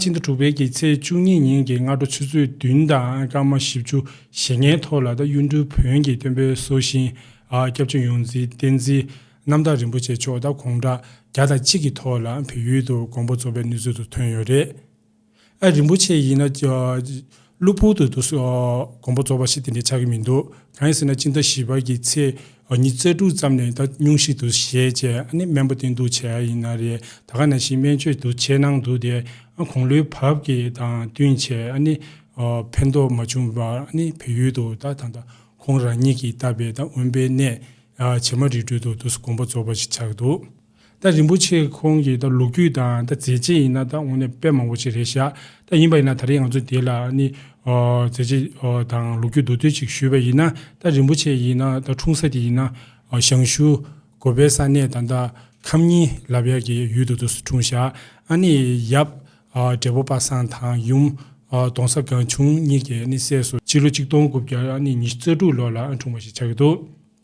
ཕྱི་ཟླ་དྲུག་པའི་གི་ཚེས་བཅུ་གཉིས་ཉིན་གྱི་སྔ་དྲོ་ཆུ་ཚོད་བདུན་དང་སྐར་མ་བཞི་བཅུ་ཞེ་ལྔའི་ཐོག་ལ་ད་གཡུ་འབྲུག་བོན་གྱི་སྟོན་པའི་སྲོག་ཤིང་སྐྱབས་ཆེན་ཡོངས་འཛིན་བསྟན་འཛིན་རྣམ་དག་རིན་པོ་ཆེ་མཆོག་ད་གུང་གྲངས་བརྒྱ་དང་གཅིག་གི་ཐོག་ལ་བོད་ཡུལ་དུ་དགོངས་པ་རྫོགས་པའི་ནུས་ཚོད་དུ་ཐོན་ཡོད་རེད། ཨ་རིན་པོ་ཆེ་ཡིན་ན། གློ་བུར་དུ་དུས་དགོངས་པ་རྫོགས་པ་ཞིག་དེ་འདྲའི་ཆགས་ཀྱི་མི་འདུག་གང་ཡིན་ཟེར་ན་སྤྱི་ཟླ་བཞི་པ་ཀྱི་ཚེས་ཉིན་རྩེ་དྲུག་ཙམ་ནས་ད་ཉུང་ཞིག་ཏུ་ཞལ་བཅད་ཨ་ནི་སྨན་པོ་བསྟེན་གཏུགས་བྱས་ཡ་ཡིན་ན་རེད་ད་ག་ན་བཞིན་སྨན་བཅོས་དུ་ཆེད་གནང་འདུག་དེ་ཨ་གོང་ལོའི་བབ་ཀྱི་དང་བསྟུན་བྱས་ཨ་ནི་ཕན་ཐོགས་མ་བྱུང་བར་ཨ་ནི་བལ་ཡུལ་དུ་ད་ད་ད་ཁོང་རང་ཉིད་ཀྱིས་བཏབ་པའི་ད་དབོན་པའི་གནས་བྱེ་མ་རི་ཁྲོད་དུ་དུས་དགོངས་པ་རྫོགས་པ་ཞིག་ཆགས་འདུག། ད་རིན་པོ་ཆེ་ཁོང་གིས་ད་ལུག་རྒྱུད་དང་ད་མཛེས་བྱེད་ཡིན་ན་ད་དངོས་གནས་དཔེ་མང་པོ་ཆེ་རེད་བཞག་ད་ཡིན་པ་ཡིན་ན་ད་རེས་ང་ཚོ་དེ་ལ་ནི། མཛེས་བྱེད་དང་ལུག་རྒྱུད་མདོ་སྟོད་ཅིག་ཞུས་པ་ཡིན་ན་ད་རིན་པོ་ཆེ་ཡིན་ན་ད་འཁྲུངས་ས་དེ་ཡིན་ན། ཞང་ཞུ། གོ་བའི་ས་གནས་དང་ད་ཁམས་གཉིས་ལབ་ཡག་གི་ཡུལ་དུ་དུ་སུ་འཁྲུངས་བཞག་ཨ་ནི་ཡབ། བགྲེས་པོ་པ་སངས་དང་ཡུམ། དོང་ས་སྒང་ཆུང་གཉིས་ཀྱི་ནི་སྲས་སུ། སྤྱི་ལོ་ཆིག་སྟོང་དགུ་བརྒྱ་ནི་ཉི་ཤུ་རྩ་དྲུག་ལོ་ལ་འཁྲུངས་པ་ཞིག་ཆགས་ཀྱི་འདུག།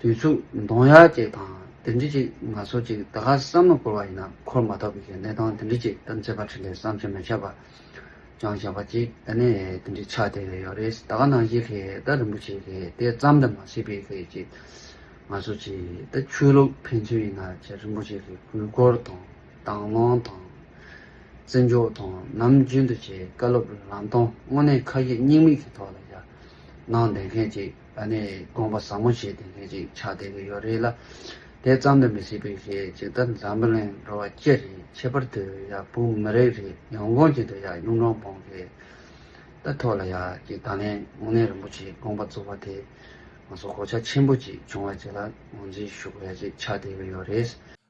དུས་ཚོད་འདོང་ཡ་ཅིག་དང་དེ་འདྲི་ཅིག་ང་ཚོ་ཅིག་ད་ག་བསམ་ན་འཁོར་བ་ཡིན་ན་འཁོར་མ་ཐག་པའི་གནས་སྟངས་དེ་འདྲི་ཅིག་གཏམ་ཚད་པ་ཁྲི་ལས་བསམ་ཚོད་མི་ཁྱབ་པ་ཅང་བཞག་པ་ཅིག་ད་ནས་དེ་འདྲི་ཆགས་བསྡད་ཡོད་རེད་ད་ག་ནང་བཞིན་ལྷས་ད་རིན་པོ་ཆེ་ལྷས་དེ་བརྩམས་ད་མ་སྲིད་པའི་ལྷས་ཅིག་ང་ཚོ་ཅིག་ད་ཆོས་ལུགས་ཕན་ཚུན་ཡིན་ན་ཅིག་རིན་པོ་ཆེ་ལྷས་གུས་བཀུར་དང་དྭང་བླངས་དང། བརྩི་འཇོག་དང་ནམ་རྒྱུན་དུ་ཅིག་བཀའ་སློབ་ལམ་སྟོན་དངོས་གནས་ཁ་ཡིག་སྙིང་མིག་གི་ཐོག་ལ་ཡ་གནང་བསྡད་མཁན་ཅིག་ད་ནས་དགོངས་པ་ཟབ་མོ་བྱས་ཏེ་ལྷན་ཅིག་ཕྱག་བསྟན་གྱི་ཡོ་རེ་ལ། དེ་ཙམ་དུ་མི་སྲིད་པའི་ཞེས་ཇི་ལྟར་འཛམ་བུ་གླིང་འགྲོ་བ་སྤྱི་རེ་ཁྱད་པར་དུ་ཡང་བུ་མི་རེ་རེ་ཡང་དགོངས་ཅན་དུ་ཡང་གཡུང་དྲུང་བོང་གེ་ལྟར་ཐོགས་ལ་ཡང་ཅིག་ད་ལན་དབུ་ནན་རིན་པོ་ཆེའི་དགོངས་པ་རྫོགས་པ་དེ། ང་སོགས་གོ་ཆ་ཆེན་པོ་ཅིག་བྱུང་བ་བཅས་ལ་ངོས་འཛིན་ཞུ་དགོས་ཡ་ཅིག་ཕྱག་བསྟན་གྱི་ཡོ་རེ།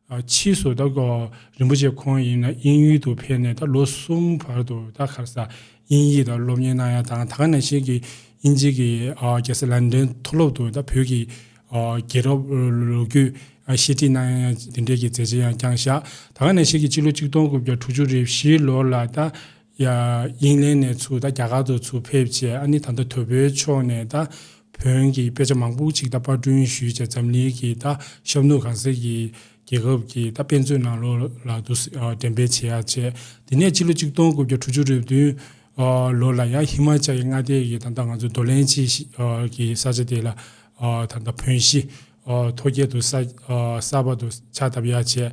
ཕྱིས་སུ་ད་གོ་རིན་པོ་ཆེ་ཁོང་ཡིན་ན་དབྱིན་ཡུལ་དུ་ཕེབས་ནས་ད་ལོ་གསུམ་བར་དུ་ད་གྷར་སར་དབྱིན་ཡིག་ད་སློབ་གཉེར་གནང་ཡ་དང་ད་ག་ནང་བཞིན་གྱི་དབྱིན་ཇིག་གི་རྒྱལ་སར་ལན་དོན་མཐོ་སློབ་དུ་ད་བོད་ཀྱི་རྒྱལ་རབས་ལོ་རྒྱུས་ཤེས་ཁྲིད་གནང་ཡ་དེ་འབྲེལ་གྱི་མཛད་རྗེས་ཡང་བསྐྱངས་བཞག་ད་ག་ནང་བཞིན་གྱི་སྤྱི་ལོ་གཅིག་སྟོང་དགུ་བརྒྱ་དྲུག་ཅུ་རེ་བཞིའི་ལོར་ལ་ད། དབྱིན་ལན་ནས་ཚུར་ད་རྒྱ་གར་དུ་ཚུར་ཕེབས་རྗེས་ཨ་ནི་ད་ད་དོལ་པོའི་ཕྱོགས་ནས་ད་བོན་གྱི་དཔེ་ཆ་མང་པོ་ཅིག་ད་དཔར་བསྐྲུན་ཞུས་རྗེས་འཛམ་གླིང་གི་ད་ཤབ་ནུ་གང་ཟེར་གྱི་རྒྱལ་ཁབ་ཀྱི་ད་དཔེ་མཛོད་ནང་ལོག་ལ་དུ་འགྲེམས་སྤེལ་བྱེད་ཡག་བྱས། དེ་ནས་སྤྱི་ལོ་གཅིག་སྟོང་དགུ་བརྒྱ་དྲུག་ཅུ་རེབ་བདུན་ལོ་ལ་ཡང་ཧི་མཱ་ཅལ་གྱི་མངའ་སྡེ་གྱི་ད་ད་ང་ཚོ་འདོ་ལན་ཅི་ཞིག་གི་ས་ཆ་དེ་ལ་ད་ད་བོན་གཞིས་མཐོ་རྒྱལ་དུ་ས་གསར་པ་དུ་ཕྱག་བཏབ་ཡག་བྱས།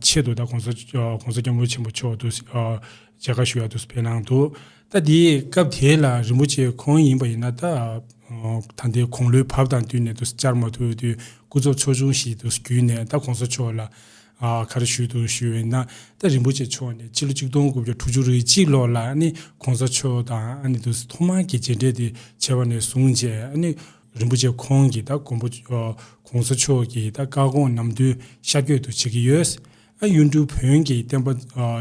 ཆེད་དུ་ད་གོང་ས་སྐྱབས་མགོན་ཆེན་པོ་མཆོག་ཏུ་མཇལ་ཁ་ཞུ་ཡག་ཏུ་ཕེབས་གནང་འདུག་ད་དེ་སྐབས་དེ་ལ་རིན་པོ་ཆེ་ཁོང་ཡིན་པ་ཡིན་ན་ད་ད་ལྟའི་དགུང་ལོའི་བབ་དང་བསྟུན་ནས་ཏུ་བཅར་མ་ཐུབ་དུས་སྐུ་ཚབ་ཚོགས་ཆུང་ཞིག་ཏུ་བརྒྱུད་ནས་ད་གོང་ས་མཆོག་ལ་ག་རེ་ཞུས་འདུག་ཞུས་འོན་ན་ད་རིན་པོ་ཆེ་མཆོག་ནས་ཕྱི་ལོ་གཅིག་སྟོང་དགུ་བརྒྱ་དྲུག་ཅུ་རེ་གཅིག་ལོར་ལ་ནི་གོང་ས་མཆོག་དང་ནི་ཏུ་ཐོག་མར་གྱི་མཇལ་འཕྲད་དེ་བྱས་པ་ནས་བཟུང་རྗེས་ནི་རིན་པོ་ཆེ་ཁོང་གིས་ད་གོང་བུ་གོང་ས་མཆོག་གི་ད་བཀའ་དགོངས་ནམ་རྒྱུན་ཤར་བསྐྱོད་དུ་བྱེད་ཀྱི་ཡོད། ཨ་གཡུ་འབྲུག་བོན་གྱི་བསྟན་པ་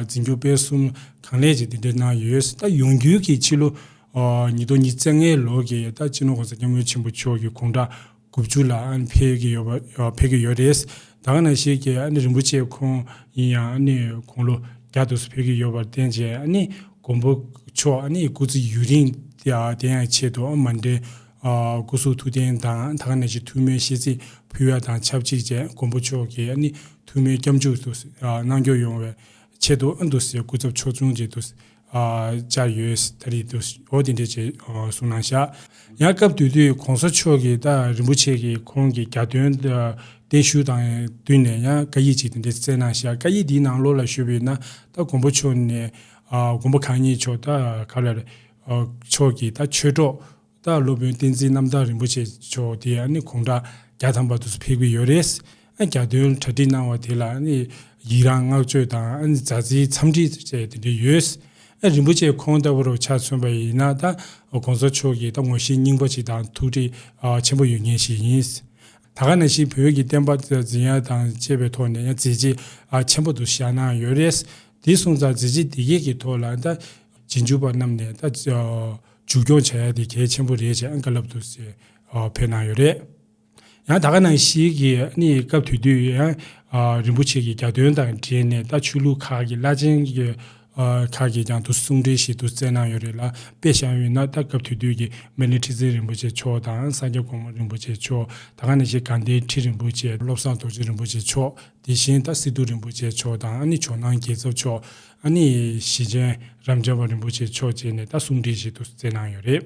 འཛིན་སྐྱོང་སྤེལ་གསུམ་གང་ལེགས་ཀྱིས་འདི་འདྲས་གནང་ཡོད། ད་ཡོང་རྒྱུའི་གི་ཕྱི་ལོ་ཉིས་སྟོང་ཉིས་བརྩེགས་ལྔའི་ལོ་གི་ད་སྤྱི་ནོར་གོང་ས་སྐྱབས་མགོན་ཆེན་པོ་མཆོག་གི་དགུང་གྲངས་དགུ་བཅུ་ལ་ཨ་ནི་ཕེབས་ཀྱི་ཡོད་པ་ཕེབས་ཀྱི་ཡོད་རེད། ད་ག་ནང་ཞིག་གི་ཨ་ནི་རིན་པོ་ཆེ་ཁོང་ཡིན་ཡང་ཨ་ནི་དགུང་ལོ་བརྒྱ་དུ་སུ་ཕེབས་ཀྱི་ཡོད་པར་བརྟེན་ཅིང་ཨ་ནི་མགོན་པོ་མཆོག་ཨ་ནི་སྐུ་ཚེ་ཡུན་རིང་དེ་ཡང་ཆེད་དུ་མ་འདྲེན། སྐུ་གཟུགས་ཐུགས་རྟེན་དང་ད་ག་ནས་ཀྱི་ཐུགས་སྨོན་ཤིས་ཚིག་ཕུལ་བ་དང་ཆབས་ཅིག་ཅན་མགོན་པོ་མཆོག་གིས་ནི་ཐུགས་སྨོན་སྐྱབས་འཇུག་ཏུ་གནང་སྐྱོང་ཡོང་བའི་ཆེད་དུ་ཨ་འདུ་སའི་སྐུ་ཚབ་ཕྱོགས་མཚུངས་ཀྱི་ཏུ་བཅར་ཡོད་ད་རེས་ཏུ་འོ་དེ་འདྲའི་ཆེད་གསུང་གནང་ཤག། ཡང་སྐབས་དུས་དུས་གོང་ས་མཆོག་གིས་ད་རིན་པོ་ཆེ་གིས་ཁོང་གི་རྒྱ་དོན་བརྟན་བཞུགས་དང་བསྟུན་ནས་ཡང་བཀའ་ཡིག་ཅིག་དེ་འདྲའི་བསྩལ་གནང་ཤག་བཀའ་ཡིག་དེའི་ནང་ལོགས་ལ་ཞུ་བས་ན་ད་མགོན་པོ་མཆོག་ནས་མགོན་པོ་གང་ཉིད་མཆོག་ད་ག་ལ་རེ། མཆོག་གིས་ད་ཆོས་གྲོགས་དང་སློབ་དཔོན་བསྟན་འཛིན་རྣམ་དག་རིན་པོ་ཆེ་མཆོག་དེ་ཡང་གུང་གྲགས་རྒྱ་ཐམ་པ་དུ་སུ་ཕེབས་ཀྱི་ཡོད་རེད། རྒྱ་སྟོན་གྲ་སྒྲིག་གནང་བ་དེ་ལ་ཡིད་རང་བསྔགས་བརྗོད་དང་མཛའ་བརྩེའི་འཚམས་འདྲི་བཅས་དེ་འདྲས་ཡོད། རིན་པོ་ཆེ་ཁོང་ལྟ་བུར་ཆ་མཚོན་པ་ཡིན་ན་ད་གོང་ས་མཆོག་གིས་ད་ངོ་ཤེས་རྙིང་པ་ཞིག་དང་ཐུགས་འདྲིས་ཆེན་པོ་ཡོད་མཁན་ཞིག་ཡིན། ད་ག་ན་བཞིན་བོད་ཀྱི་བསྟན་པ་འཛིན་ཡ་དང་བཅས་པའི་ཐོག་ནས་ཡང་མཛད་རྗེས་ཆེན་པོ་དུ་བཞག་གནང་ཡོད་རེད། དེ་གསུངས་ཙང་མཛད་རྗེས་འདི་སྐད་ཀྱི་ཐོག་ལ་ད། རྗེས་འཇུག་པ་རྣམས་ནས་ད་མཇུག་སྐྱོང་བྱ་ཡ་དེ་གལ་ཆེན་པོ་རེད་ཅེས་ཨང་ཀི་བསླབ་འདུག་ཟེར་བོད་གནང་ཡོད་རེད། ཡང་ད་ག་ནང་ཞིག་གི་ནི་སྐབས་དེ་དུས་ཡང་རིན་པོ་ཆེ་གི་རྒྱ་སྟོན་དང་འབྲེལ་ནས་ད་ཆོས་ལུགས་ཁག་གི་བླ་ཆེན་ཁག་གིས་ཀྱང་དུ་གསུང་འཕྲིན་ཞིག་དུ་སྩལ་གནང་ཡོད་རེད་ལ་དཔེ་བཞག་ཡོད་ན་ད་སྐབས་དེ་དུས་ཀྱི་སྨན་རི་ཁྲི་བཙན་རིན་པོ་ཆེ་མཆོག་དང་ས་སྐྱ་གོང་མ་རིན་པོ་ཆེ་མཆོག་ད་ག་ནང་ཞིག་ག་འདན་ཁྲི་རིན་པོ་ཆེ་བློ་བཟང་རྡོ་རྗེ་རིན་པོ་ཆེ་མཆོག་དེ་བཞིན་ད་སི་ཏུ་རིན་པོ་ཆེ་མཆོག་དང་ཨ་ནི་ཇོ་ནང་རྒྱལ་ཚབ་མཆོག་ཨ་ནི་ཞི་ཅན་རམ་རྒྱལ་བ་རིན་པོ་ཆེ་མཆོག་བཅས་ནས་ད་གསུང་བྲིས་ཞིག་ཏུ་བསྩལ་གནང་ཡོད་རེད།